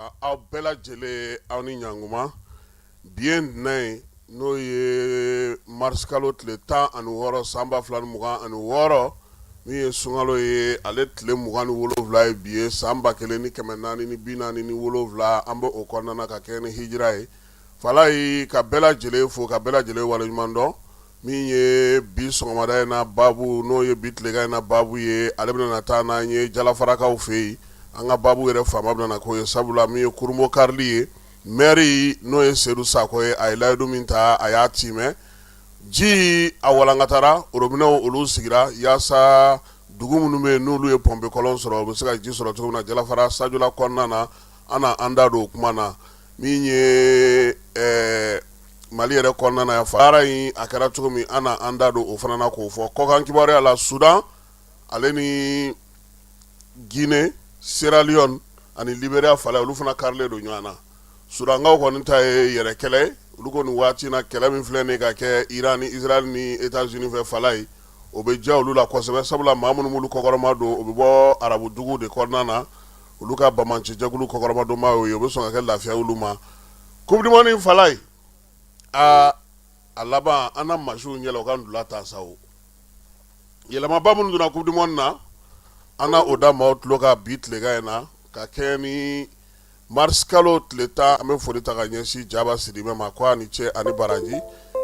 aw bɛɛ lajɛlen aw ni ɲanguma bi ye ntɛnɛn n'o ye marisikalo tile tan ani wɔɔrɔ san ba fila mugan ani wɔɔrɔ min ye sunkalo ye ale tile mugan ni wolowula ye bi ye san ba kelen ni kɛmɛ naani ni bi naani ni wolowula an bɛ o kɔnɔna ka kɛ ni hijira ye fala ye ka bɛɛ lajɛlen fo ka bɛɛ lajɛlen waleɲuman dɔn min ye bi sɔgɔmada in na baabu n'o ye bi tilekan in na baabu ye ale bɛna taa n'an ye jalafarakaw fɛ yen an ka baabu yɛrɛ faama bɛna k'o ye sabula min ye kurumo karili ye mɛri n'o ye sedu sako ye a ye layidu min ta a y'a timɛ ji a walankatara orobinɛw olu sigira yaasa dugu minnu bɛ yen n'olu ye pɔnpekɔlɔn sɔrɔ u bɛ se ka ji sɔrɔ cogo min na jalafara sajula kɔnɔna na an na an da don o kuma na min ye ɛɛ mali yɛrɛ kɔnɔna yan fala ye a kɛra cogo min an na an da don o fana na k'o fɔ kɔkan kibaruya la sudan ale ni gine sera leyɔni ani liberiya fala ye olu fana karilen don ɲɔgɔn na sudankaw kɔni ta ye yɛrɛ kɛlɛ olu kɔni waati na kɛlɛ min filɛ nin ka kɛ iran ni israyɛli ni etazini fɛ fala ye o bɛ diya olu la kosɛbɛ sabula maa minnu b'olu kɔkɔrɔmadon o bɛ bɔ arabudugu de kɔnɔna na olu ka banbaancijɛkulu kɔkɔrɔmadonbaa ye o bɛ sɔn ka kɛ lafiya olu ma coupe du monde fala ye aa a laban an na masiw yɛlɛ u ka wula ta sa o yɛlɛmaba minnu donna coupe du monde na an na o da maaw tulo ka bi tilekan in na ka kɛ ni marisikalo tile tan an bɛ foli ta ka ɲɛsin jaba sidibe ma ko a ni ce ani baraji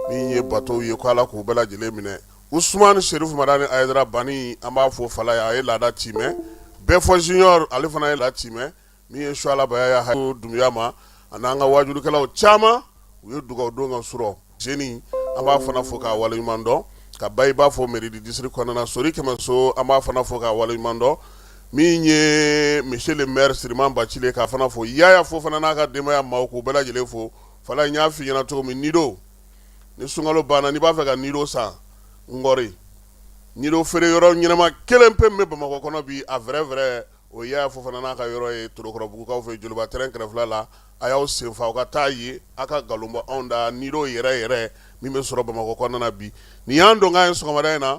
min ye batow ye ko ala k'u bɛɛ lajɛlen minɛ usumani serifu madani ayidara bani an b'a fo fala ye a ye laada timɛ bɛɛfɔ junior ale fana ye laada timɛ min ye suala bayaya dunbiya ma ani an ka wajukɛlaw caman u ye dugawu don ka sɔrɔ jeni an b'a fana fo k'a waleɲuman dɔn ka ba i b'a fɔ mairie du district kɔnɔna sori kɛmɛso an b'a fana fo k'a waleɲuman dɔn min ye monsieur le maire siriman bacili k'a fana fo yaya fofana n'a ka denbaya maaw k'u bɛɛ lajɛlen fo fala n y'a fɔ i ɲɛna cogo min nido ni sunkalo banna n'i b'a fɛ ka nido san ngɔri nido feere yɔrɔ ɲɛnama kelen pe min bɛ bamakɔ kɔnɔ bi a vrai vrai o yaya fofana n'a ka yɔrɔ ye torokɔrɔbugukaw fɛ joliba tɛrɛn kɛrɛfɛ la a y'aw senfa aw ka taa yen aw ka nkalon bɔ anw da nido yɛrɛ yɛrɛ min bɛ sɔrɔ bamakɔ kɔnɔna bi nin y'an donkan ye sɔgɔmada in na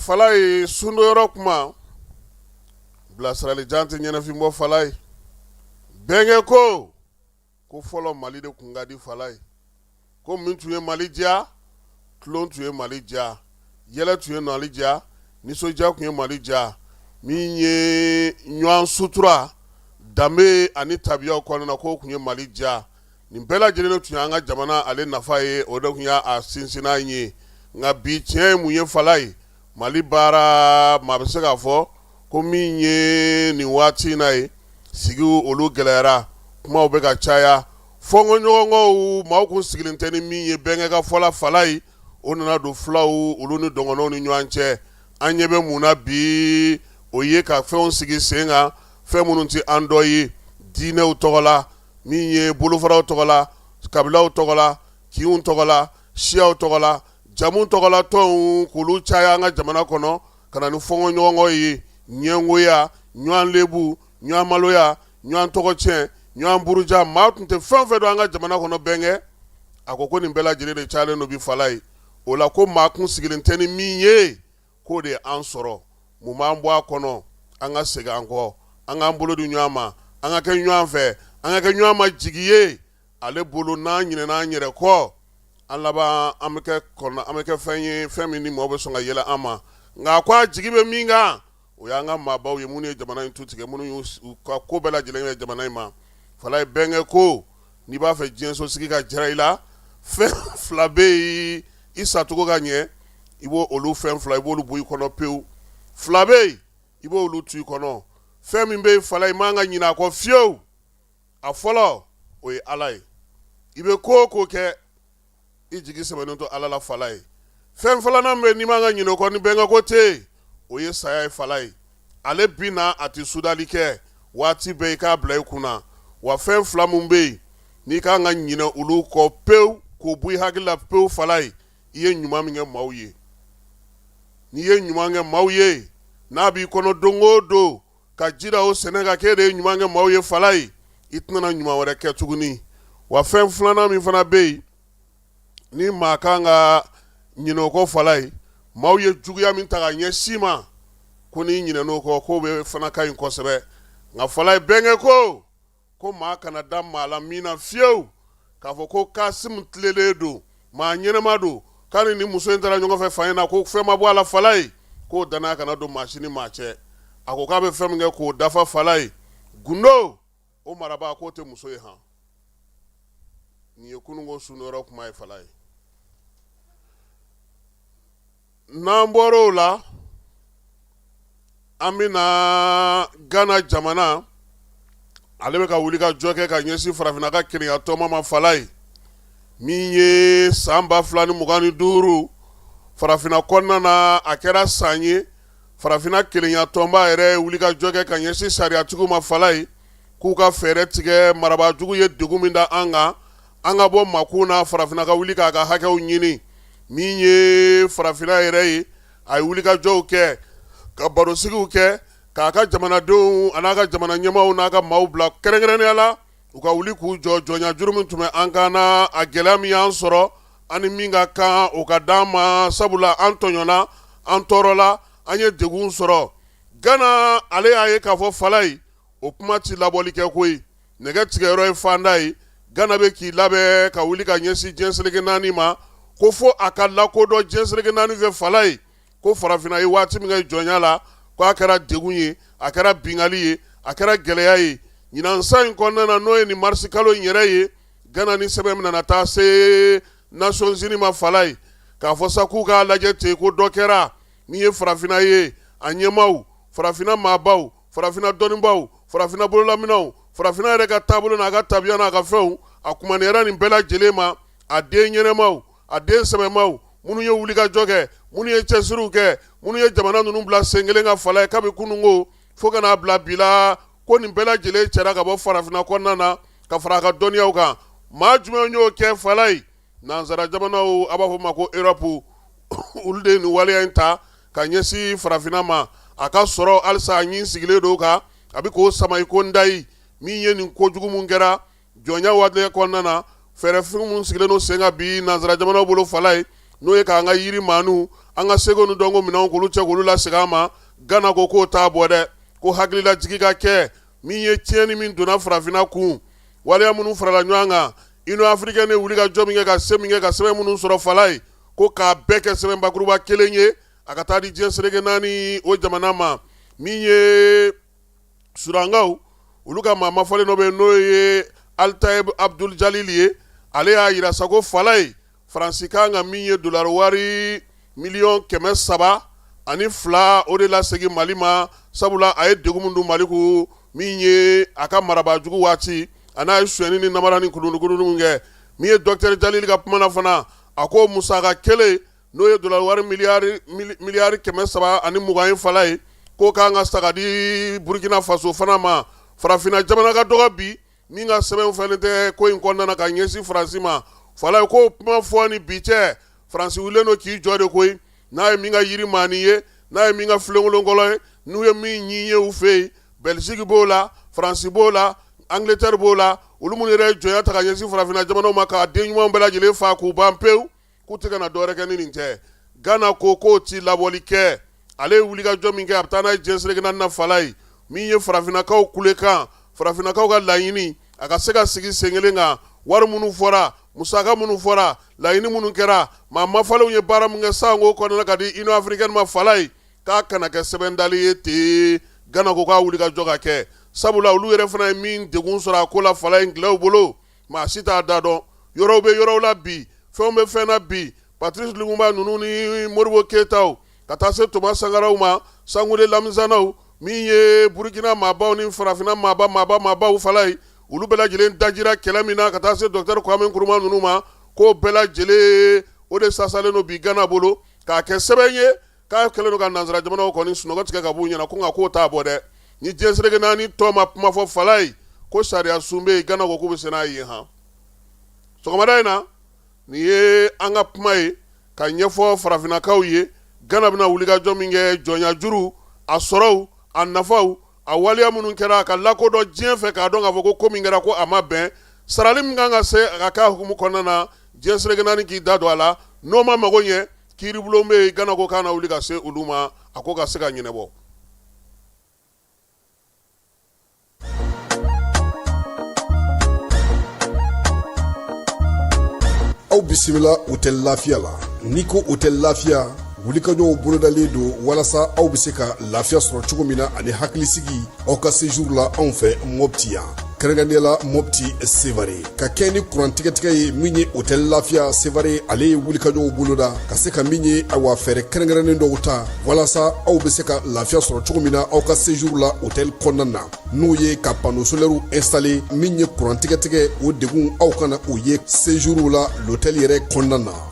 fala ye sundo yɔrɔ kuma bilasirali jan tɛ ɲɛnafinbɔ fala ye bɛnkɛ ko ko fɔlɔ mali de tun ka di fala ye ko min tun ye mali diya tulon tun ye mali diya yɛlɛ tun ye mali diya nisɔndiya tun ye mali diya min ye ɲɔgɔn sutura danbe ani tabiyaw kɔnɔna k'o tun ye mali diya nin bɛɛ lajɛlen tun ye an ka jamana ale nafa ye o de tun y'a sinsinnan ye nka bi tiɲɛ ye mun ye fala ye mali baara maa bɛ se k'a fɔ ko min ye nin waati in na ye sigiw olu gɛlɛyara kumaw bɛ ka caya fɔnkɔɲɔgɔnkɔw maaw kun sigilen tɛ ni min ye bɛnkɛ ka fɔla fala ye o nana don fulaw olu ni dɔgɔnɔw ni ɲɔgɔn cɛ an ɲɛ bɛ mun na bi o ye ka fɛnw sigi sen kan fɛn minnu tɛ an dɔ ye diinɛw tɔgɔ la min ye bolofaraw tɔgɔ la kabilaw tɔgɔ la kinw tɔgɔ la siyaw tɔgɔ la jamu tɔgɔ la tɔnw k'olu caya an ka jamana kɔnɔ ka na ni fɔnkɔɲɔgɔnkɔ ye ɲɛngoya ɲɔgɔn lebu ɲɔgɔn maloya ɲɔgɔn tɔgɔ cɛn ɲɔgɔn buruja maa tun tɛ fɛn o fɛn dɔn an ka jamana kɔnɔ bɛnkɛ a ko ko nin bɛɛ lajɛlen de calen don bi fala ye o la ko maa kun sigilen tɛ ni min ye k'o de ye an sɔrɔ mun b'an bɔ a kɔnɔ an ka segin an kɔ an k'an bolo di ɲɔgɔn ma an ka kɛ ɲɔgɔn fɛ an ka kɛ ɲɔgɔn ma jigi ye ale bolo n'an ɲinɛna an yɛrɛ kɔ an laban an bɛ kɛ ɔn an bɛ kɛ fɛn ye fɛn min ni mɔgɔ bɛ sɔn ka yɛlɛ an ma nka a ko a jigi bɛ min kan o y'an ka maabaw ye minnu ye jamana in tu tigɛ minnu y'u ka ko bɛɛ lajɛlen kɛ jamana in ma fala ye bɛnkɛ ko n'i b'a fɛ diɲɛso sigi ka jara i la fɛn fila bɛ yen i sacogo ka ɲɛ i b' olu fɛn fila i b'olu bɔ i kɔnɔ pewu fila bɛ yen i b'olu to i kɔnɔ fɛn min bɛ yen fala i man ka ɲinɛ a kɔ fiyewu a fɔlɔ o ye ala ye i bɛ ko o ko kɛ i jigi sɛmɛnen to ala la fala ye fɛn filanan bɛ n'i man ka ɲinɛ o kɔ ni bɛnkɛ ko ten o ye saya ye fala ye ale bi na a tɛ sudali kɛ waati bɛɛ i k'a bila i kun na wa fɛn fila min bɛ yen n'i ka kan ka ɲinɛ olu kɔ pewu k'o bɔ i hakili la pewu fala ye i ye ɲuman min kɛ maaw ye n'i ye ɲuman kɛ maaw ye n'a b'i kɔnɔ don o don ka jira o sɛnɛ ka k'e de ye ɲuman kɛ maaw ye fala ye i tɛna ɲuman wɛrɛ kɛ tuguni wa fɛn filanan min fana bɛ yen ni maa kan ka ɲinɛ o kɔ fala ye maaw ye juguya min ta ka ɲɛsin i ma ko n'i ɲinɛna o kɔ k'o bɛ fana ka ɲi kosɛbɛ nka fala ye bɛnkɛ ko ko maa kana da maa la min na fiyewu k'a fɔ ko kasimu tilelen don maa ɲɛnama don k'a ni nin muso in taara ɲɔgɔn fɛ fan in na ko fɛn ma bɔ a la fala ye k'o danaya kana don maa si ni maa cɛ a ko k'a bɛ fɛn min kɛ k'o dafa fala ye gundo o marabaa k'o tɛ muso ye han nin ye kununko sunyɔrɔ kuma ye fala ye n'an bɔra o la an bɛ na gana jamana ale bɛ ka wuli ka jɔ kɛ ka ɲɛsin farafinna ka kelenyatɔnba ma fala ye min ye san ba fila ni mugan ni duuru farafinna kɔnɔna na a kɛra san ye farafinna kelenyatɔnba yɛrɛ wuli ka jɔ kɛ ka ɲɛsin sariyatigiw ma fala ye k'u ka fɛɛrɛ tigɛ marabajugu ye degun min da an kan an ka bɔ makun na farafinna ka wuli k'a ka hakɛw ɲini min ye farafinna yɛrɛ ye a ye wuli ka jɔw kɛ ka barosigiw kɛ k'a ka jamanadenw a n'a ka jamana ɲɛmaaw n'a ka maaw bila kɛrɛnkɛrɛnnenya la u ka wuli k'u jɔ jɔnya juru min tun bɛ an kan na a gɛlɛya min y'an sɔrɔ ani min ka kan o ka d'an ma sabula an tɔɲɔna an tɔɔrɔla an ye degun sɔrɔ gana ale y'a ye k'a fɔ fala ye o kuma tɛ labɔli kɛ koyi nɛgɛ tigɛyɔrɔ ye fanda ye gana bɛ k'i labɛn ka wuli ka ɲɛsin diɲɛ seleke naani ma ko fo a ka lakodɔn diɲɛ seleke naani fɛ fala ye ko farafinna ye waati min kɛ jɔnya la ko a kɛra degun ye a kɛra bingali ye a kɛra gɛlɛya ye ɲinan san in kɔnɔna na n'o ye nin marisi kalo in yɛrɛ ye gana ni sɛbɛn min nana taa se nations unies ma fala ye k'a fɔ sa k'u k'a lajɛ ten ko dɔ kɛra min ye farafinna ye a ɲɛmaaw farafinna maabaw farafinna dɔnnibaw farafinna bololaminɛnw farafinna yɛrɛ ka taabolo n'a ka tabiya n'a ka fɛnw a kumaniyara nin bɛɛ lajɛlen ma a den ɲɛnamaw a den sɛbɛmaw minnu ye wuli ka jɔ kɛ minnu ye cɛsiriw kɛ minnu ye jamana ninnu bila sen kelen kan fala ye kabi kununko fo ka n'a bila bi la ko nin bɛɛ lajɛlen cɛra ka bɔ farafinna kɔnɔna na ka fara a ka dɔnniyaw kan maa jumɛn y'o kɛ fala ye Nansara jamanaw a b'a fɔ ma ko erɔpu olu de ye nin waleya in ta ka ɲɛsin farafinna ma a ka sɔrɔ halisa a ɲin sigilen don kan a bɛ k'o sama i kodayi min ye nin kojugu min kɛra jɔnya waati kɔnɔna na fɛɛrɛfin min sigilen don sen kan bi nansara jamanaw bolo fala ye n'o ye k'an ka yiri maaninw an ka seko ni dɔnko minɛnw k'olu cɛ k'olu lasegin an ma gana ko k'o t'a bɔ dɛ ko hakililajigin ka kɛ min ye tiɲɛni min donna farafinna kun waleya minnu farala ɲɔgɔn kan union africaine ye wuli ka jɔ min kɛ ka se min kɛ ka sɛbɛn minnu sɔrɔ fala ye ko k'a bɛɛ kɛ sɛbɛn bakuruba kelen ye a ka taa di diɲɛ seleke naani o jamana ma min ye sudankaw olu ka maa mafɔlen dɔ bɛ yen n'o ye altayeb abdul jalil ye ale y'a jira sa ko fala ye faransi ka kan ka min ye dolari wari miliyɔn kɛmɛ saba ani fila o de lasegin mali ma sabula a ye degun min don mali kun min ye a ka marabaajugu waati a n'a ye sonyɛni ni namara ni kulukulun min kɛ min ye docteur jalil ka kuma na fana a ko musaka kelen n'o ye dolari wari miliyari kɛmɛ saba ani mugan ye fala ye k'o ka kan ka sara ka di burukina faso fana ma farafinna jamana ka dɔgɔ bi min ka sɛbɛn fɛnɛ tɛ ko in kɔnɔna ka ɲɛsin faransi ma fala ye k'o kuma fɔ ni bi cɛ faransi wulilen don k'i jɔ de koyi n'a ye min ka yirimaani ye n'a ye min ka filenkolonkɔlɔ ye n'u ye min ɲi ye u fɛ yen bɛliziki b'o la faransi b'o la angiletari b'o la olu minnu yɛrɛ jɔnya ta ka ɲɛsin farafinna jamanaw ma k'a den ɲumanw bɛɛ lajɛlen fa k'u ban pewu K'u tɛ ka na dɔwɛrɛ kɛ ni nin tɛ Gana ko k'o ti labɔli kɛ ale ye wulikajɔ min kɛ a bɛ taa n'a ye diɲɛ seleke naani na Fala ye min ye farafinakaw kulekan farafinakaw ka laɲini a ka se ka sigi senkelen kan wari minnu fɔra musaka minnu fɔra laɲini minnu kɛra maa mafalenw ye baara min kɛ san ko kɔnɔna ka di Union africaine ma Fala ye k'a kana kɛ sɛbɛn dali ye ten Gana ko k'a wulikajɔ ka kɛ sabula olu yɛrɛ fana ye min degun sɔrɔ a ko la Fala ye angilɛw bolo maa si t'a da dɔn yɔrɔw bɛ yɔrɔw la bi fɛnw bɛ fɛn na bi patirisi lumumba ninnu ni modibo keyitaw ka taa se toma sankaraw ma sangule lamizanaw min ye burukina maabaw ni farafinna maaba maaba maabaw fala ye olu bɛɛ lajɛlen dajira kɛlɛ min na ka taa se dɔtɛri kuwami kuruma ninnu ma k'o bɛɛ lajɛlen o de sasalen don bi gana bolo k'a kɛ sɛbɛn ye k'a kɛlen don ka nansara jamanaw kɔni sunɔgɔ tigɛ ka b'u ɲɛna ko nka k'o t'a bɔ dɛ ni diɲɛ seleke naani tɔn ma kuma fɔ fala ye ko sariya sun bɛ yen gana ko k'u bɛ se n'a ye han sɔgɔmada in na nin ye an ka kuma ye ka ɲɛfɔ farafinnakaw ye gana bɛna wulikajɔ min kɛ jɔnyajuru a sɔrɔw a nafaw a waleya minnu kɛra a ka lakodɔn diɲɛ fɛ k'a dɔn k'a fɔ ko ko min kɛra ko a ma bɛn sarali min kan ka se a ka k'a hukumu kɔnɔna na diɲɛ seleke naani k'i da don a la n'o ma mago ɲɛ kiiribulon bɛ yen gana ko k'a na wuli ka se olu ma a ko ka se ka ɲɛnabɔ aw bisimila hôtel lafiya la n'i ko hôtel lafiya wulikajɔw bolodalen don walasa aw bɛ se ka lafiya sɔrɔ cogo min na ani hakilisigi aw ka séjour la anw fɛ mɔpti yan kɛrɛnkɛrɛnnenya la mɔpti sevare ka kɛɲɛ ni kurantigɛtigɛ ye min ye hôtel lafiya sevare ale ye wulikajɔw boloda ka se ka min ye awa fɛɛrɛ kɛrɛnkɛrɛnnen dɔw ta walasa aw bɛ se ka lafiya sɔrɔ cogo min na aw ka séjour la hôtel kɔnɔna na n'o ye ka panneau solaire installer min ye kurantigɛtigɛ o degun aw kana o ye séjour la l'hôtel yɛrɛ kɔnɔna na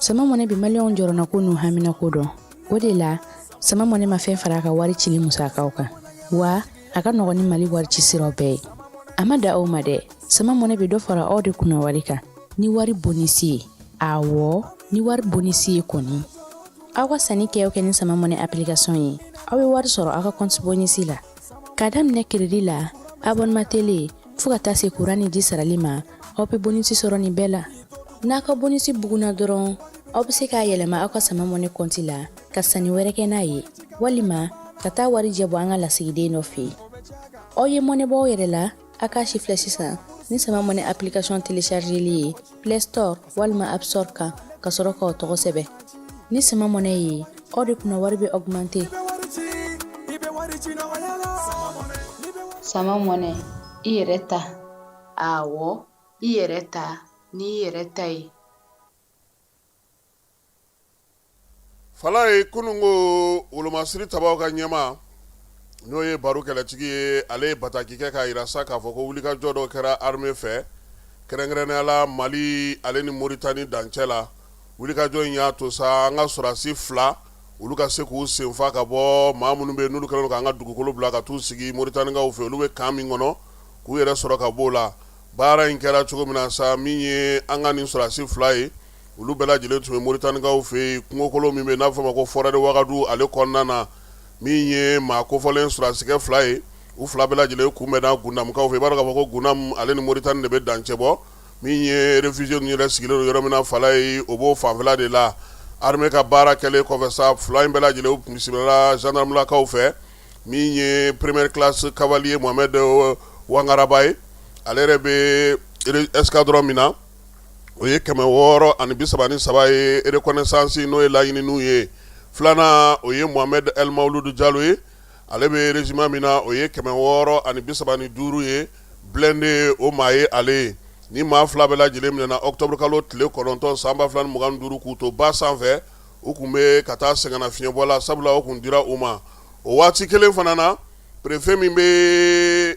sama mɔnɛ bi maliyɛnw jɔrɔnanko n'u haminanko dɔn o de la sama mɔnɛ ma fɛn fara a ka wari cili musakaw kan wa a ka nɔgɔn ni mali wari ci siraw bɛɛ ye a ma da aw ma dɛ sama mɔnɛ bɛ dɔ fara aw de kunna wari kan ni wari bonisi ye awɔ ni wari bonisi ye kɔni aw ka sanni kɛ o kɛ ni sama mɔnɛ application ye aw bɛ wari sɔrɔ aw ka kɔnti bonisi la Ka daminɛ crédit la abonnement télé fo ka taa se kuran ni ji sarali ma aw bɛ bonisi sɔrɔ nin bɛɛ la n'a ka bonisi bugunna dɔrɔn aw bɛ se k'a yɛlɛma aw ka sama mɔnɛ kɔnti la ka sanni wɛrɛ kɛ n'a ye walima ka taa warijɛ bɔ an ka lasigiden dɔ fɛ yen aw ye mɔnɛ bɔ aw yɛrɛ la A k'a sifilɛ sisan ni sama mɔnɛ application téléchargeli ye play store walima app store kan ka sɔrɔ k'aw tɔgɔ sɛbɛn ni sama mɔnɛ ye aw de kunna wari bɛ augmenter sama mɔnɛ i yɛrɛ ta awɔ i yɛrɛ ta n'i yɛrɛ ta ye fala ye kununko wolomasiri tabaw ka ɲɛmaa n'o ye baro kɛlɛtigi ye ale ye bataki kɛ k'a yira sa k'a fɔ ko wulikajɔ dɔ kɛra armée fɛ kɛrɛnkɛrɛnnenya la mali ale ni moritani dancɛ la wulikajɔ in y'a to sa an ka sɔrasi fila olu ka se k'u senfa ka bɔ maa minnu bɛ n'olu kɛlen k'an ka dugukolo bila ka t'u sigi moritanikaw fɛ olu bɛ kan min kɔnɔ k'u yɛrɛ sɔrɔ ka b'o la Baara in kɛra cogo min na sa min ye an ka nin sɔrasi fila ye olu bɛɛ lajɛlen tun bɛ moritanikaw fɛ yen kungokolo min bɛ n'a bɛ fɔ a ma ko forêt de wagadu ale kɔnɔna na min ye maa kofɔlen sɔrasikɛ fila ye u fila bɛɛ lajɛlen kunbɛnna gundamukaw fɛ i b'a dɔn k'a fɔ ko gundamu ale ni moritani de bɛ dancɛ bɔ min ye réfugié ninnu yɛrɛ sigilen don yɔrɔ min na fala ye o b'o fanfɛla de la armée ka baara kɛlen kɔfɛ sa fila in bɛɛ lajɛlen u kun bisimilala gendarmelakaw fɛ min ye première classe cavalier mohamed wangaraba ye ale yɛrɛ bɛ escadron min na o ye kɛmɛ wɔɔrɔ ani bisaba ni saba ye reconnaissance n'o ye laɲininiw ye filanan o ye mohamed el maouloud jalo ye ale bɛ régiment min na o ye kɛmɛ wɔɔrɔ ani bisaba ni duuru ye blindé o maa ye ale ye nin maa fila bɛɛ lajɛlen minɛna octobre kalo tile kɔnɔntɔn san ba fila ni mugan ni duuru k'u to ba sanfɛ u kun bɛ ka taa sɛgɛnnafiɲɛbɔ la sabula o kun dira u ma o waati kelen fana na préfet min bɛ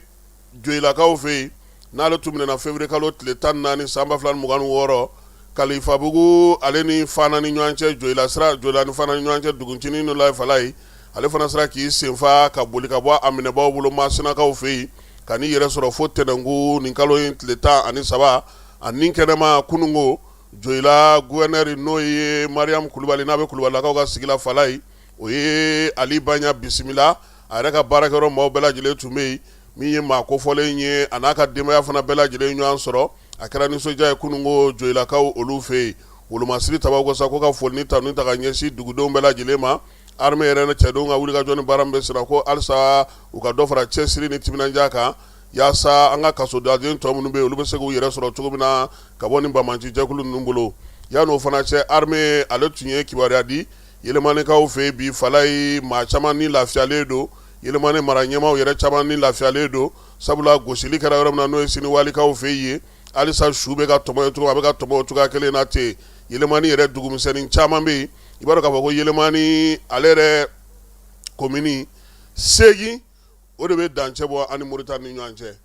joyilakaw fɛ yen n'ale tun minɛna février kalo tile tan ni naani san ba fila ni mugan ni wɔɔrɔ kalifabugu ale ni fana ni ɲɔgɔn cɛ joyila sira joyila ni fana ɲɔgɔn cɛ dugutinin dɔ la fala ye ale fana sera k'i senfa ka boli ka bɔ a minɛbaw bolo masinakaw fɛ yen ka n'i yɛrɛ sɔrɔ fo tɛnɛnkun nin kalo in tile tan ani saba a nin kɛnɛma kununko Joyila gouverneur n'o ye mariam kulubali n'a bɛ kulubalilakaw ka sigi la fala ye o ye ali baɲa bisimila a yɛrɛ ka baarakɛyɔrɔ maaw bɛɛ lajɛlen tun bɛ yen min ye maa kofɔlen ye a n'a ka denbaya fana bɛɛ lajɛlen ɲɔgɔn sɔrɔ a kɛra nisɔndiya ye kununko joyilakaw olu fɛ yen wolomasiri tabaw ko sa ko ka foli ni tanu ta ka ɲɛsin dugudenw bɛɛ lajɛlen ma armée yɛrɛ cɛdenw ka wulikajɔ ni baara min bɛ senna ko alisa u ka dɔ fara cɛsiri ni timinandiya kan Yaasa an ka kasodaden tɔ minnu bɛ yen olu bɛ se k'u yɛrɛ sɔrɔ cogo min na ka bɔ nin banbaanci jɛkulu ninnu bolo yan'o fana cɛ armée ale tun ye kibaruya di yɛlɛmanikaw fɛ yen bi fala ye maa caman ni lafiyalen don yɛlɛmani mara ɲɛmaw yɛrɛ caman ni lafiyalen don sabula gosili kɛra yɔrɔ min na n'o ye siniwalikaw fɛ yen halisa su bɛ ka tɔmɔ cogo a bɛ ka tɔmɔ cogoya kelen na ten yɛlɛmani yɛrɛ dugumisɛnnin caman bɛ yen i b'a dɔn k'a fɔ ko yɛlɛmani ale yɛrɛ komini seegin o de bɛ dancɛ bɔ ani Moritani ni ɲɔgɔn cɛ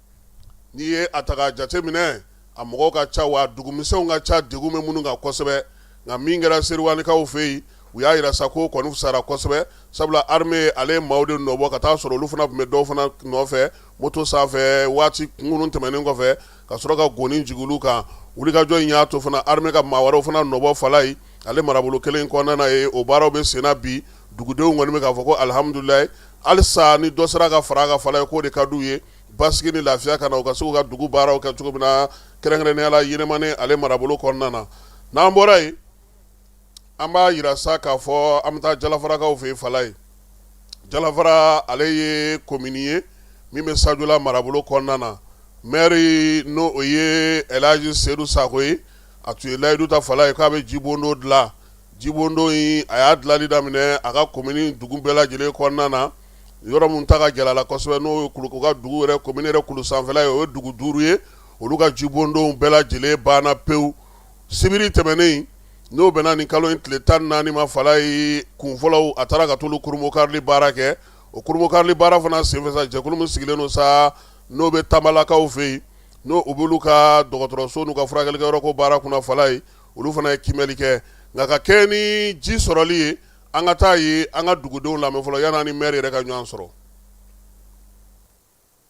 n'i ye a ta k'a jateminɛ a mɔgɔw ka ca wa dugumisɛnw ka ca degun bɛ minnu kan kosɛbɛ nka min kɛra seriwalikaw fɛ yen u y'a yira sa ko kɔni sara kosɛbɛ sabula armée ale ye maaw de nɔbɔ ka taa sɔrɔ olu fana tun bɛ dɔw fana nɔfɛ moto sanfɛ waati kunkurun tɛmɛnen kɔfɛ ka sɔrɔ ka goni jigin olu kan wulikajɔ in y'a to fana armée ka maa wɛrɛw fana nɔbɔ fala ye ale marabolo kelen kɔnɔna ye o baaraw bɛ senna bi dugudenw kɔni bɛ k'a fɔ ko alihamudulilayi halisa ni dɔ sera ka fara a kan fala ye k'o de ka di u ye basigi ni lafiya ka na u ka se k'u ka dugu baaraw kɛ cogo min na kɛrɛnkɛrɛnnenya la Yɛlɛmani ale marabolo kɔnɔna na n'an bɔra yen an b'a yira sa k'a fɔ an bɛ taa Jalafarakaw fɛ yen fala ye Jalafara ale ye commune ye min bɛ Sajola marabolo kɔnɔna na maire n'o o ye Elhaji Sedu Sako ye a tun ye layidu ta fala ye k'a bɛ jibondon dilan Jibondon in a y'a dilanli daminɛ a ka komini dugu bɛɛ lajɛlen kɔnɔna na yɔrɔ min ta ka gɛlɛn a la kosɛbɛ n'o ye u ka dugu yɛrɛ komini yɛrɛ kulu sanfɛla ye o ye dugu duuru ye olu ka jibondonw bɛɛ lajɛlen banna pewu sibiri tɛmɛnen n'o bɛnna nin kalo in tile tan naani ma fala ye kunfɔlɔ a taara ka t'olu kurunbonkarili baara kɛ o kurunbonkarili baara fana senfɛ sa jɛkulu min sigilen don sa n'o bɛ tanbalakaw fɛ yen n'o b'olu ka dɔgɔtɔrɔso n'u ka furakɛlikɛyɔrɔ ko baara kunna fala ye olu fana ye kiimɛli kɛ nka ka kɛɲɛ ni ji sɔrɔli ye an ka taa ye an ka dugudenw lamɛn fɔlɔ yan'an ni maire yɛrɛ ka ɲɔgɔn sɔrɔ.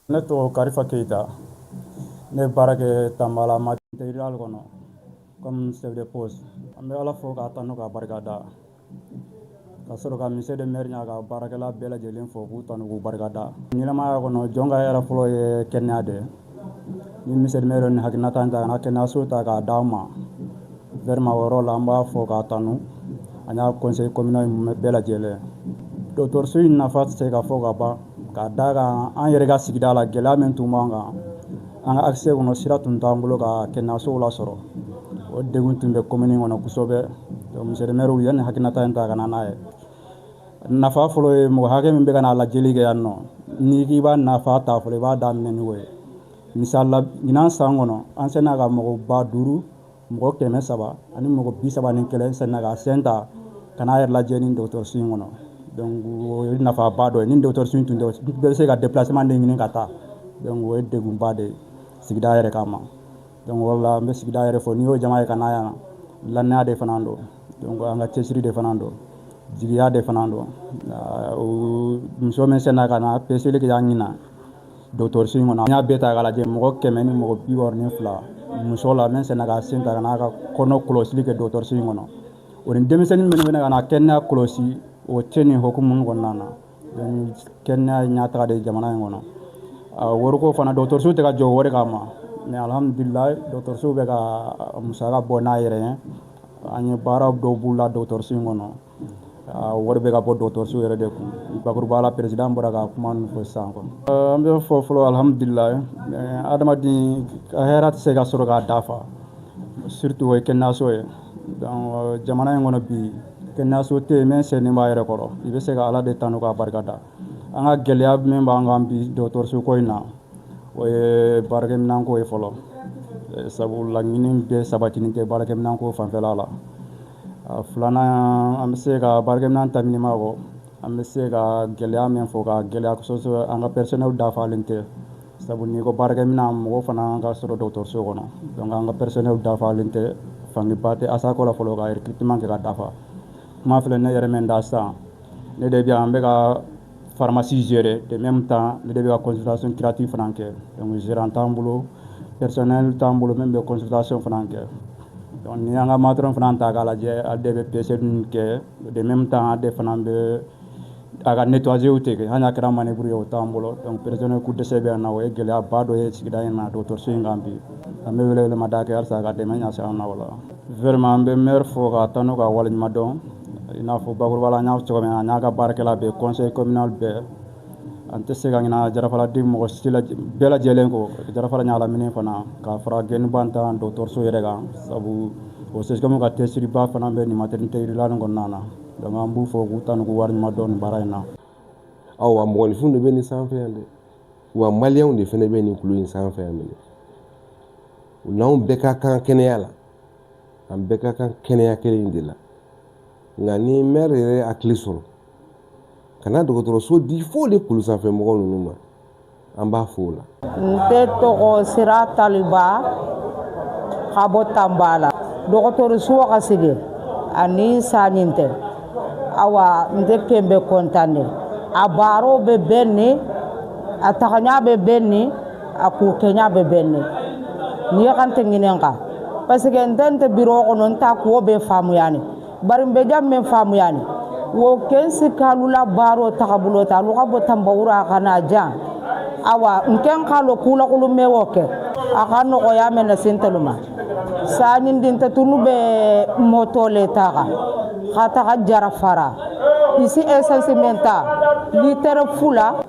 Ne tɔgɔ Karifa Keyita ne bɛ baara kɛ Tanbala matériel kɔnɔ comme chef de poste an bɛ Ala fo k'a tanu k'a barikada ka sɔrɔ ka monsieur le maire n'a ka baarakɛla bɛɛ lajɛlen fo k'u tanu k'u barikada ɲɛnamaya kɔnɔ jɔn ka hɛrɛ fɔlɔ ye kɛnɛya de ni monsieur le maire nin hakilinata in ta ka na kɛnɛyaso ta k'a d'an ma vraiment o yɔrɔ la an b'a fo k'a tanu a n'a conseil communal bɛɛ lajɛlen dɔgɔtɔrɔso in nafa tɛ se ka fɔ ka ban K'a d'a kan an yɛrɛ ka sigida la gɛlɛya min tun b'an kan an ka accès kɔnɔ sira tun t'an bolo ka kɛnɛyaso lasɔrɔ o degun tun bɛ commune kɔnɔ kosɛbɛ donc monsieur le maire u ye nin hakilinata in ta ka na n'a ye nafa fɔlɔ ye mɔgɔ hakɛ min bɛ ka na lajɛli kɛ yan nɔ n'i k'i b'a nafa ta fɔlɔ i b'a daminɛ n'o ye misali la ɲinan san kɔnɔ an senna ka mɔgɔ ba duuru mɔgɔ kɛmɛ saba ani mɔgɔ bi saba ni kelen senna ka sen ta ka n'a yɛrɛ lajɛ ni dɔgɔtɔrɔso in kɔnɔ donc o ye nafaba dɔ ye ni dɔgɔtɔrɔso in tun tɛ bɛɛ bɛ se ka déplacement de ɲini ka taa donc o ye dɛgunba de ye sigida yɛrɛ kama donc o la an bɛ sigida yɛrɛ fo n'i y'o jama ye ka na yan lannaya de fana don an ka cɛsiri de fana don jigiya de fana don muso min senna ka na pese yan ɲin Dɔgɔtɔrɔso in kɔnɔ an y'a bɛɛ ta k'a lajɛ mɔgɔ 100 ni mɔgɔ 62 muso la min senna ka sen ta ka n'a ka kɔnɔ kɔlɔsili kɛ dɔgɔtɔrɔso in kɔnɔ o ni denmisɛnnin minnu bɛna ka na kɛnɛya kɔlɔsi o tɛ nin hokumu kɔnɔna na donc kɛnɛya ye ɲɛtaga de ye jamana in kɔnɔ wariko fana dɔgɔtɔrɔso tɛ ka jɔ wari kama mais alhamdulilayi dɔgɔtɔrɔso bɛ ka musaka bɔ n'a yɛrɛ ye an ye baara dɔw boloda dɔgɔtɔrɔso in kɔnɔ wari bɛ ka bɔ dɔgɔtɔrɔso yɛrɛ de kun bakuruba la président bɔra ka kuma ninnu fɔ sisan quoi an bɛ fɔ fɔlɔ alhamdulilahi adamaden ka hɛrɛ tɛ se ka sɔrɔ k'a dafa surtout o ye kɛnɛyaso ye donc jamana in kɔnɔ bi kɛnɛyaso tɛ yen min sennen b'a yɛrɛ kɔrɔ i bɛ se ka ala de tanu k'a barika da an ka gɛlɛya min b'an kan bi dɔgɔtɔrɔso ko in na o ye baarakɛminɛnko ye fɔlɔ sabu laɲini bɛɛ sabatinen tɛ baarakɛminɛnko fanfɛla la filanan an bɛ se ka baarakɛminɛn tɛmɛnen kɔ an bɛ se ka gɛlɛya min fɔ ka gɛlɛya o an ka personnel dafalen tɛ sabu n'i ko baarakɛminɛn mɔgɔ fana ka sɔrɔ dɔgɔtɔrɔso kɔnɔ donc an ka personnel dafalen tɛ fangaba tɛ ASACO la fɔlɔ ka recrutement kɛ ka dafa kuma filɛ ne yɛrɛ min da san ne de bɛ an bɛ ka pharmacie gérer de même temps ne de bɛ ka consultation curative fana kɛ donc gérant t'an bolo personnel t'an bolo min bɛ consultation fana kɛ donc n'i y'an ka matrone fana ta k'a lajɛ a de bɛ pese ninnu kɛ de même temps a de fana bɛ a ka nettoyage de kɛ hali n'a kɛra manœuvre ye o t'an bolo donc personnel ko dɛsɛ bɛ yan na o ye gɛlɛyaba dɔ ye sigida in na dɔgɔtɔrɔso in kan bi an bɛ welewelemada kɛ halisa ka dɛmɛ ɲɛsin an ma o la vraiment an bɛ maire fo k'a tanu k'a waleɲumandɔn I n'a fɔ bakurubala n y'a fɔ cogoya min na, a n'a ka baarakɛla bɛɛ conseil communal bɛɛ, an tɛ se ka ɲinɛ Jalafaraden mɔgɔ si la bɛɛ lajɛlen kɔ, Jalafara ɲagalaminen fana ka fara gɛnnibantan dɔgɔtɔrɔso yɛrɛ kan sabu o CSCOM ka cɛsiriba fana bɛ nin maternité rurale kɔnɔna na donc an b'u fo k'u tanu k'u waleɲuman dɔn nin baara in na. Awa mɔgɔninfinw de bɛ nin sanfɛ yan dɛ, wa maliyɛnw de fana bɛ nin kulu in sanfɛ yan minnu n'anw bɛɛ ka kan kɛnɛya la. an bɛɛ ka kan kɛnɛya kelen in de la nka ni mɛri yɛrɛ hakili sɔrɔ ka na dɔgɔtɔrɔso di fo de kulu sanfɛ mɔgɔ ninnu ma an b'a fo o la nte tɔgɔ Sira Taliba ka bɔ Tanbala dɔgɔtɔrɔso ka sigi ani sanni tɛ awa nte kɛn bɛ kɔntan de a baaraw bɛ bɛnnin a tagaɲa bɛ bɛnnin a kukɛɲa bɛ bɛnnen ni ye Kante ɲininka parce que n tɛ n tɛ biro kɔnɔ n ta ko bɛɛ faamuyani bari n bɛ jan min faamuyani wo Kensikalu la baaro tagabolo ta alu ka bɔ Tanbawura ka na jan awa n kɛ n k'a lɔ kuulakolon bɛ o kɛ a ka nɔgɔya mɛ na sen tɛlu ma sanni di n tɛ tunu bɛ mɔtɔ le ta kan ka taga jarafara isi esansi mɛ ta litiri fula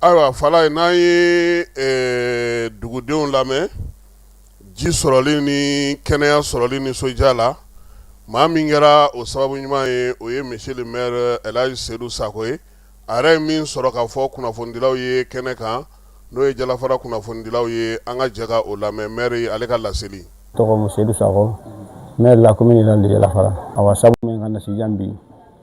ayiwa fala ye n'an ye dugudenw lamɛn ji sɔrɔli ni kɛnɛya sɔrɔli ni nisɔndiya la maa min kɛra o sababu ɲuman ye o ye monsieur le maire Elhaji Seydou Sako ye a yɛrɛ ye min sɔrɔ k'a fɔ kunnafonidilaw ye kɛnɛ kan n'o ye jalafara kunnafonidilaw ye an ka jɛ ka o lamɛn maire ale ka laseli tɔgɔ la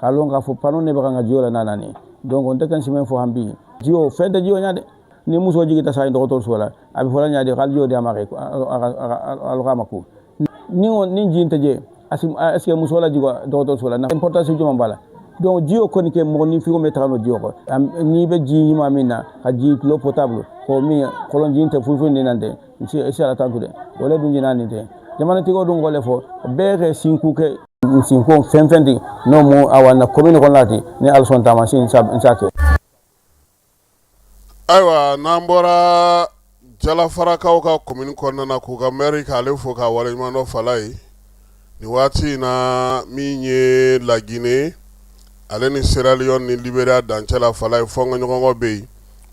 k'a lɔn k'a fɔ pano ne bɛ kan ka jiyo la n'a nana ye donc n tɛ kan sɛmɛ fɔ an bi jiyo fɛn tɛ jiyo ɲa dɛ ni muso jigita sa ye dɔgɔtɔrɔso la a bɛ fɔla ɲa de k'ale jiyo di a ma kɛ alu k'a ma ko ni ni ji tɛ je est ce que muso la jigo dɔgɔtɔrɔso la importance jumɛn b'a la donc jiyo kɔni kɛ mɔgɔnifin o bɛ taga n'o jiyo kɔ n'i bɛ ji ɲuman minna ka ji l'eau potable k'o min kɔlɔnji tɛ foyi foyi nin na tɛ n se ala tantu dɛ o le dun jina nin tɛ jamanatigiw dun kɔlɛ fɔ bɛɛ kɛ sinku kɛ sinko fɛn fɛn ten n'o mu awa na commune kɔnɔ na ten ni Ala sɔnna taama sin sa sa kɛ ayiwa n'an bɔra jalafarakaw ka commune kɔnɔna na k'u ka maire k'ale fo k'a waleɲumandɔn fala ye nin waati in na min ye La Guinée ale ni Sierra Leone ni Liberia dancɛ la fala ye fɔnkɔɲɔgɔnkɔ bɛ yen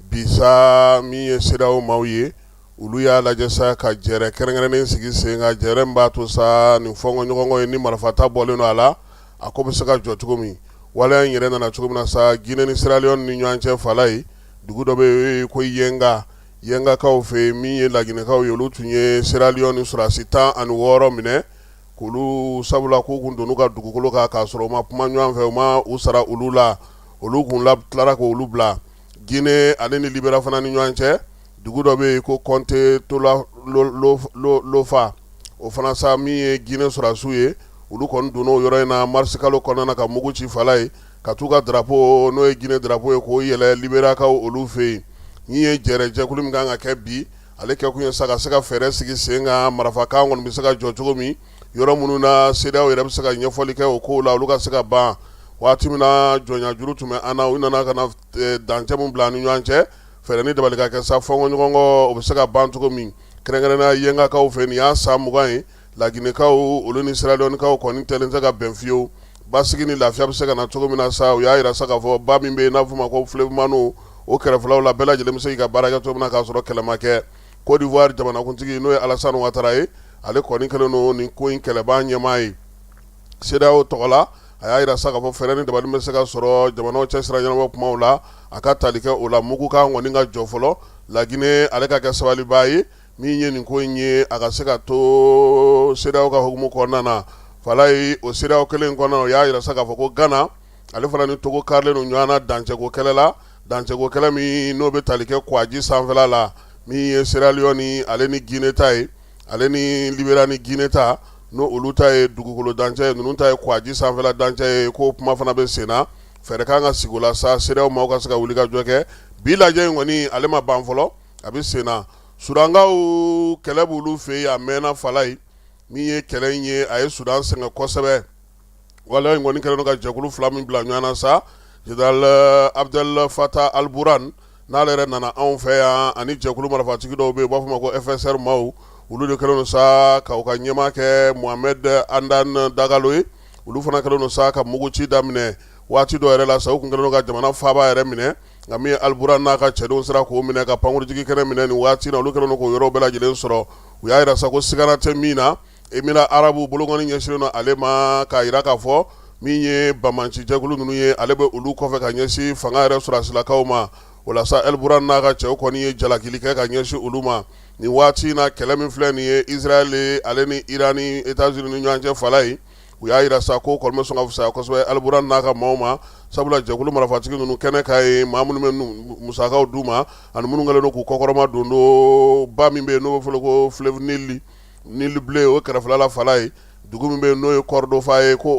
bi sa min ye CEDEAO maaw ye olu y'a lajɛ sa ka jɛrɛ kɛrɛnkɛrɛnnen sigi sen kan jɛrɛ min b'a to sa nin fɔnkɔɲɔgɔnkɔ ye ni marifata bɔlen don a la a ko bɛ se ka jɔ cogo min waleya in yɛrɛ nana cogo min na sa Guinée ni Sierra Leone ni ɲɔgɔn cɛ fala ye dugu dɔ bɛ yen o ye ko Yenga Yengakaw fɛ yen min ye Laginɛkaw ye olu tun ye Sierra Leone sɔrɔdasi tan ani wɔɔrɔ minɛ k'olu sabula k'u tun donn'u ka dugukolo kan k'a sɔrɔ u ma kuma ɲɔgɔn fɛ u ma u sara olu la olu tun tilara k'olu bila Guinée ale ni Libéria fana ni ɲɔgɔn cɛ dugu dɔ bɛ yen ko comté de Lofa o fana sa min ye Guinée sɔrɔdasiw ye olu kɔni donna yɔrɔ in na marisikalo kɔnɔna ka mugu ci fala ye ka taa u ka drapeau n'o ye Guinée drapeau ye k'o yɛlɛ Liberiakaw olu fɛ yen nin ye jɛrɛ jɛkulu min kan ka kɛ bi ale kɛkun ye sa ka se ka fɛɛrɛ sigi sen kan marifakan kɔni bɛ se ka jɔ cogo min yɔrɔ minnu na CEDEAO yɛrɛ bɛ se ka ɲɛfɔli kɛ o ko la olu ka se ka ban waati min na jɔnyajuru tun bɛ an na u nana ka na dancɛ min bila ni ɲɔgɔn cɛ Fɛɛrɛ ni dabali ka kɛ sa fɔɲɔgɔnkɔ o bɛ se ka ban cogo min kɛrɛnkɛrɛnna yɛngakaw fɛ nin y'a san mugan ye laginɛkaw olu ni siraliyɔnikaw kɔni tɛ se ka bɛn fiyewu basigi ni lafiya bɛ se ka na cogo min na sa u y'a jira sa k'a fɔ ba min bɛ yen n'a fɔ ma ko fleuve mano o kɛrɛfɛlaw la bɛɛ lajɛlen bɛ se ka baara kɛ cogo min na k'a sɔrɔ kɛlɛ ma kɛ kodiwari jamanakuntigi n'o ye alasani watara ye ale kɔni kɛlen don ni ko in kɛlɛban ɲɛmaa ye Sedeyawo tɔgɔ la a y'a jira sa ka fɔ fɛɛrɛ ni dabali bɛ se ka sɔrɔ jamanaw cɛsira ɲanama kumaw la a ka tali kɛ o la mugukan kɔni ka jɔ fɔlɔ laginɛ ale ka kɛ sabalibaa ye min ye nin ko in ye a ka se ka to sedeyawo ka hukumu kɔnɔna na fala ye o sedeyawo kelen kɔnɔna o y'a jira sa k'a fɔ ko gana ale fana ni togo karilen don ɲɔgɔn na dancɛko kɛlɛ la dancɛko kɛlɛ min n'o bɛ tali kɛ kɔgɔji sanfɛla min ye siraliyɔni ale ni jinɛ ta ye ale ni liberiya ni jinɛ ta n' olu ta ye dugukolo dancɛ ye ninnu ta ye kɔgɔji sanfɛla dancɛ ye ko kuma fana bɛ sen na fɛɛrɛ ka kan ka sigi o la sa sedeyawo maaw ka se ka wulikajɔ kɛ bi lajɛ in kɔni ale ma ban fɔlɔ a bɛ sen na sudankaw kɛlɛ bɛ olu fɛ yen a mɛnna fala ye min ye kɛlɛ in ye a ye sudan sɛgɛn kosɛbɛ wale in kɔni kɛlen ka jɛkulu fila min bila ɲɔgɔn na sa zenerali abudɛli fata aliburan n'ale yɛrɛ nana anw fɛ yan ani jɛkulu marifatigi dɔw bɛ yen u b'a fɔ ma ko ɛfɛsɛri maaw olu de kɛlen sa k'u ka ɲɛmaa kɛ mohamɛdi amudan dagalo ye olu fana kɛlen sa ka muguci daminɛ waati dɔ yɛrɛ la sa u tun kɛlen ka jamana faaba yɛrɛ minɛ nka min ye aliburan n'a ka cɛdenw sera k'o minɛ ka pankurunjigi kɛnɛ minɛ nin waati na olu kɛlen k'o yɔrɔ bɛɛ lajɛlen sɔrɔ u y'a jira sa ko siga tɛ min na Emira arabu bolokɔni ɲɛsinnen don ale ma k'a jira k'a fɔ min ye bamanci jɛkulu ninnu ye ale bɛ olu kɔfɛ ka ɲɛsin fanga yɛrɛ sɔrɔsilakaw ma o la sa aliburan n'a ka cɛw kɔni ye jalakili kɛ ka ɲɛsin olu ma nin waati in na kɛlɛ min filɛ nin ye isirayɛli ale ni iran ni etazini ni ɲɔgɔn cɛ fala ye u y'a jira sa ko kɔni bɛ sɔn ka fisaya kosɛbɛ aliburan n'a ka maaw ma sabula jɛkulu marifatigi ninnu kɛnɛ ka ye maa minnu bɛ musakaw d'u ma ani minnu kɛlen don k'u kɔkɔrɔma don don ba min bɛ yen n'o bɛ fɔ ko fleuve Nil bleu o kɛrɛfɛla la fala ye dugu min bɛ n'o ye kɔrɔdofan ye ko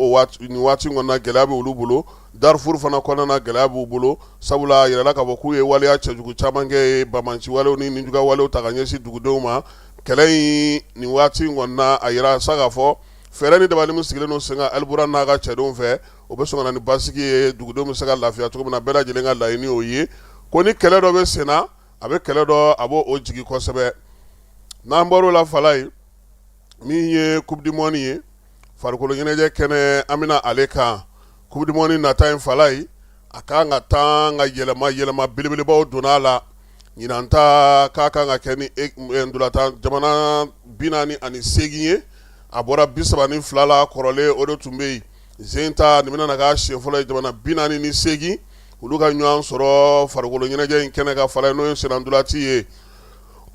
nin waati in kɔnɔna gɛlɛya bɛ olu bolo darifuru fana kɔnɔna gɛlɛya b'u bolo sabula a jirala k'a fɔ k'u ye waleya cɛjugu caman kɛ ye bamanci wale ni nijuguya walew ta ka ɲɛsin dugudenw ma kɛlɛ in nin waati in kɔnɔna a jira sa ka fɔ fɛɛrɛ ni dabali min sigilen don sen kan aliburan n'a ka cɛdenw fɛ o bɛ sɔn ka na ni basigi ye dugudenw bɛ se ka lafiya cogo min na bɛɛ lajɛlen ka laɲini o ye ko ni kɛlɛ dɔ bɛ senna a bɛ kɛlɛ dɔ a b'o jigi kosɛbɛ n'an bɔra o la fala ye min ye kupudimɔni ye farikolo ɲɛnajɛ kɛnɛ an bɛna ale kan kupudimɔni nata in fala ye a ka kan ka taa ka yɛlɛma yɛlɛma belebelebaw don a la ɲinan ta k'a kan ka kɛ ni ntolatan jamana bi naani ani seegin ye a bɔra bi saba ni fila la kɔrɔlen o de tun bɛ yen Zen ta nin bɛna na k'a siɲɛ fɔlɔ ye jamana bi naani ni segin olu ka ɲɔgɔn sɔrɔ farikolo ɲɛnajɛ in kɛnɛ kan fala ye n'o ye sennandolati ye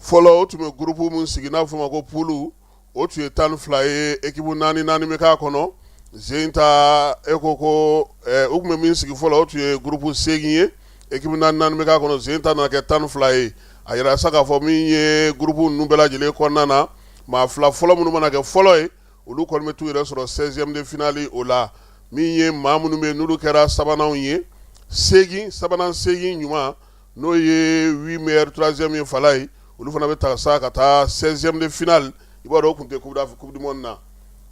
fɔlɔ o tun bɛ groupe min sigi n'a bɛ fɔ o ma ko poule o tun ye tan ni fila ye équipe naani naani bɛ k'a kɔnɔ zen ta e ko ko u tun bɛ min sigi fɔlɔ o tun ye groupe segin ye équipe naani naani bɛ k'a kɔnɔ zen ta nana kɛ tan ni fila ye a jira sa k'a fɔ min ye groupe ninnu bɛɛ lajɛlen kɔnɔna na maa fila fɔlɔ minnu mana kɛ fɔlɔ ye olu kɔni bɛ t'u yɛrɛ sɔrɔ 16 ème de finale o la min ye maa minnu bɛ n'olu kɛra sabananw ye seegin sabanan seegin ɲuman n'o ye 8 meilleurs troisième ye fala ye olu fana bɛ ta sa ka taa 16 ème de finale i b'a dɔn o tun tɛ coupe du monde na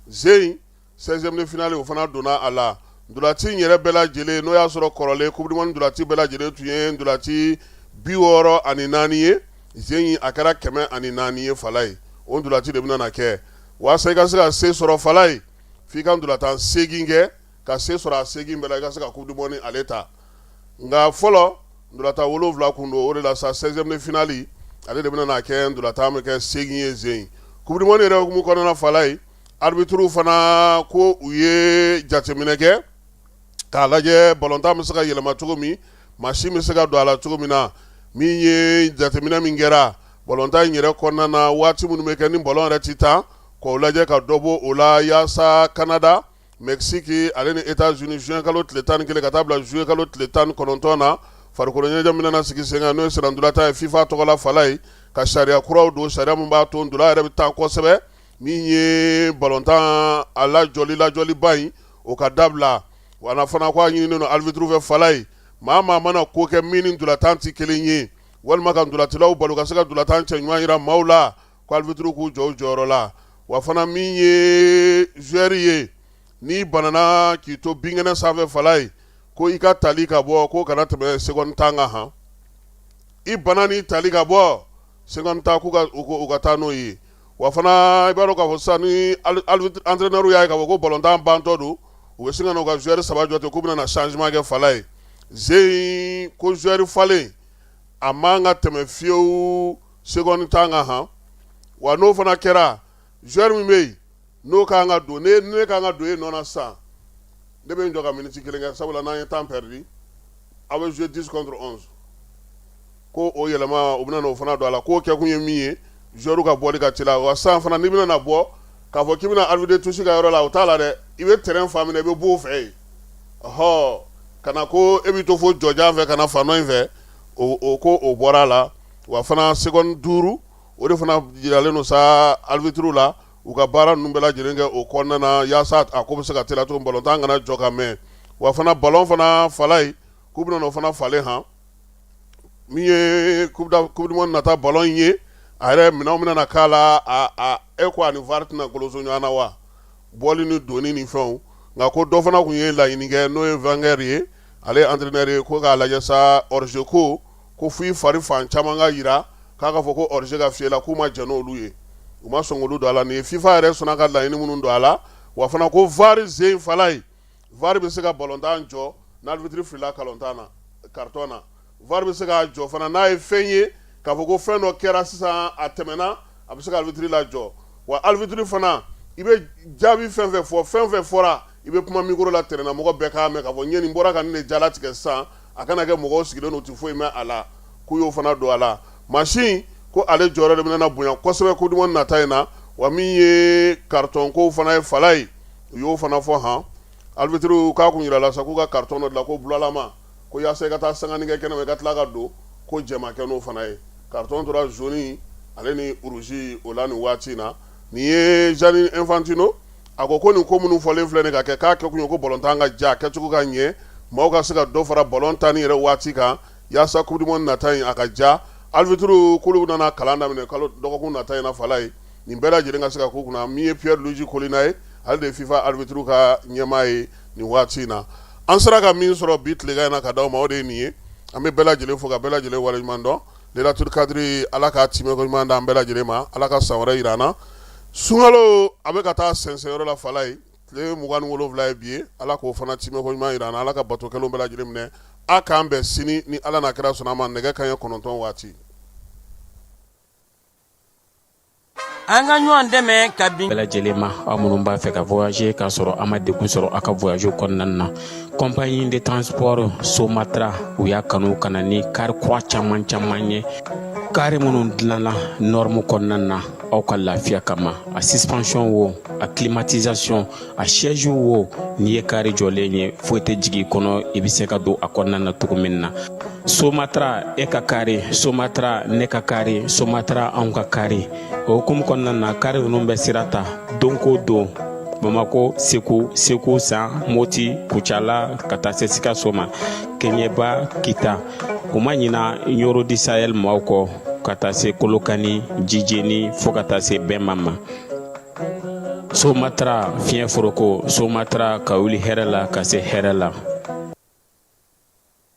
Zein 16 ème de finale o fana donna a la ndolati in yɛrɛ bɛɛ lajɛlen n'o y'a sɔrɔ kɔrɔlen coupe du monde ndolati bɛɛ lajɛlen tun ye ndolati bi wɔɔrɔ ani naani ye Zein a kɛra kɛmɛ ani naani ye fala ye o ndolati de bɛna na kɛ walasa i ka se ka se sɔrɔ fala ye f'i ka ndolatan segin kɛ ka se sɔrɔ a segin bɛɛ la i ka se ka coupe du monde ale ta nka fɔlɔ ndolatan wolonwula tun don o de la sa 16 ème de finale ale de bɛna na kɛ ndolatan bɛ kɛ segin ye zen coupe du monde yɛrɛ hukumu kɔnɔna fala ye arbitruw fana ko u ye jateminɛ kɛ k'a lajɛ balontan bɛ se ka yɛlɛma cogo min machine bɛ se ka don a la cogo min na min ye jateminɛ min kɛra Bɔlɔntan in yɛrɛ kɔnɔna na waati minnu bɛ kɛ ni bɔlɔn yɛrɛ tɛ taa k'o lajɛ ka dɔ bɔ o la yaasa Kanada, Mɛkisiki ale ni Etats-Unis juin kalo tile 11 ka taa bila juillet kalo tile 19 na farikolo ɲɛnajɛ min nana sigi sen kan n'o ye sennantolatan ye FIFA tɔgɔ la fala ye ka sariya kuraw don sariya min b'a to ntola yɛrɛ bɛ taa kosɛbɛ min ye bɔlɔntan a lajɔli lajɔliba in o ka dabila wa fana k'a ɲininen don arbitre fɛ fala ye maa maa mana ko kɛ min ni ntolatan tɛ kelen ye walima ka ndolatilaw bali ka se ka ndolatan cɛɲuman jira maaw la ko arbitre k'u jɔ u jɔyɔrɔ la wa fana min ye joueur ye n'i banana k'i to binkɛnɛ sanfɛ fala ye ko i ka tali ka bɔ ko kana tɛmɛ seconde tan kan han i bana n'i tali ka bɔ seconde tan k'u ka taa n'o ye wa fana i b'a dɔn k'a fɔ sisan ni entraineur y'a ye k'a fɔ ko ballon tan bantɔ don, u bɛ sin ka na u ka joueur saba jɔ ten k'u bɛna na changement kɛ Fala ye, Zen ko joueur falen a man ka tɛmɛ fiyewu seconde tan kan han, wa n'o fana kɛra joueur min bɛ yen n'o ka kan ka don ni ne ka kan ka don e nɔ na sisan ne bɛ n jɔ ka minute kelen kɛ sabula n'an ye temps perdu aw bɛ jouer 10 contre 11 Ko o yɛlɛma u bɛna o fana don a la k'o kɛ kun ye min ye joueur ka bɔli ka teliya wa sisan fana n'i bɛna bɔ k'a fɔ k'i bɛna arbitre touche ka yɔrɔ la o t'a la dɛ i bɛ terrain fan min i bɛ bɔ o fɛ yen ɔ kana ko e bɛ to fo yɔrɔjan fɛ ka na fan dɔ in fɛ o ko o bɔra a la wa fana seconde duuru o de fana jiralen sa arbitre la u ka baara ninnu bɛɛ lajɛlen kɛ o kɔnɔna na yaasa a ko bɛ se ka teliya cogo min ballon tan kana jɔ ka mɛn wa fana ballon fana fala ye k'u bɛna o fana falen h min ye coupe du monde nata ballon in ye a yɛrɛ minɛn min nana k'a la e ko ani VAR tɛna goloso ɲɔgɔn na wa bɔli ni donni ni fɛnw nka ko dɔ fana tun ye laɲini kɛ n'o ye Wenger ye ale entraîneur ye ko k'a lajɛ sa hors-jeu ko ko fo i fari fan caman ka jira k'a ka fɔ ko hors-jeu ka fiyɛ i la k'u ma jɛn n'olu ye u ma sɔn k'olu don a la nin ye FIFA yɛrɛ sɔnna ka laɲini minnu don a la wa fana ko VAR sen fala ye VAR bɛ se ka ballon tan jɔ n'arbitre filila ballon tan na carton na VAR bɛ se k'a jɔ fana n'a ye fɛn ye k'a fɔ ko fɛn dɔ kɛra sisan a tɛmɛna a bɛ se ka arbitre lajɔ wa arbitre fana i bɛ jaabi fɛn o fɛn fɔ fɛn o fɛn fɔra i bɛ kuma micro la terrain na mɔgɔ bɛɛ k'a mɛn k'a fɔ nin bɔra ka ne jala tigɛ sisan a kana kɛ mɔgɔ sigilen don i tɛ foyi mɛn a la k'u y'o fana don a la machine ko ale jɔyɔrɔ de bɛna bonya kosɛbɛ coupe du monde nata in na wa min ye carton ko fana ye fala ye u y'o fana fɔ hɔn arbitres k'a tun jirala sa k'u ka carton dɔ dilan ko bulalama ko yaasa i ka taa sangani kɛ kɛnɛ ma i ka tila ka don ko jɛn ma kɛ n'o fana ye carton tora jaune ale ni rouge o la nin waati in na nin ye Gianni Infantino a ko ko nin ko minnu fɔlen filɛ nin ka kɛ k'a kɛkun ye ko ballon tan ka ja kɛcogo ka ɲɛ maaw ka se ka dɔ fara ballon tan ni yɛrɛ waati kan yaasa coupe du monde nata in a ka ja arbitres k'olu nana kalan daminɛ kalo dɔgɔkun nata in na fala ye nin bɛɛ lajɛlen ka se ka ko kunna min ye Pierluigi Collina ye ale de ye FIFA arbitre ka ɲɛmaa ye nin waati in na an sera ka min sɔrɔ bi tilegan in na ka d'aw ma o de ye nin ye an bɛ bɛɛ lajɛlen fo ka bɛɛ lajɛlen waleɲuman dɔn Lelatul Kadiri Ala ka timɛko ɲuman d'an bɛɛ lajɛlen ma Ala ka san wɛrɛ jira an na sunkalo a bɛ ka taa sɛnsɛn yɔrɔ la fala ye tile mugan ni wolonwula ye bi ye Ala k'o fana timɛko ɲuman jira an na Ala ka bato kɛlenw bɛɛ lajɛlen minɛ a k'an bɛn sini ni Ala n'a kira sɔnna a ma nɛgɛ kanɲɛ kɔnɔntɔn waati an ka ɲɔgɔn dɛmɛ ka bin bɛɛ lajɛlen ma aw minnu b'a fɛ ka voyager k'a sɔrɔ a ma degun sɔrɔ a ka voyage kɔnɔna na compagnie de transport Somatra u y'a kanu ka na ni kari kura caman caman ye kari minnu dilanna norme kɔnɔna na aw ka lafiya kama a suspension wo a climatisation a sɛju wo n'i ye kari jɔlen ye foyi tɛ jigin kɔnɔ i bɛ se ka don a kɔnɔna na cogo min na somatara e ka kari somatara ne ka kari somatara anw ka kari o hukumu kɔnɔna na kari ninnu bɛ sira ta don ko don bamakɔ segu segu san moti kucala ka taa se sikaso ma keɲɛba kita u ma ɲina ɲɔrɔ di sayɛli maaw kɔ ka taa se kolokani jijeni fɔɔ ka taa se bɛma ma somatara fiɲɛ foroko somatara ka wuli hɛrɛ la ka se hɛrɛ la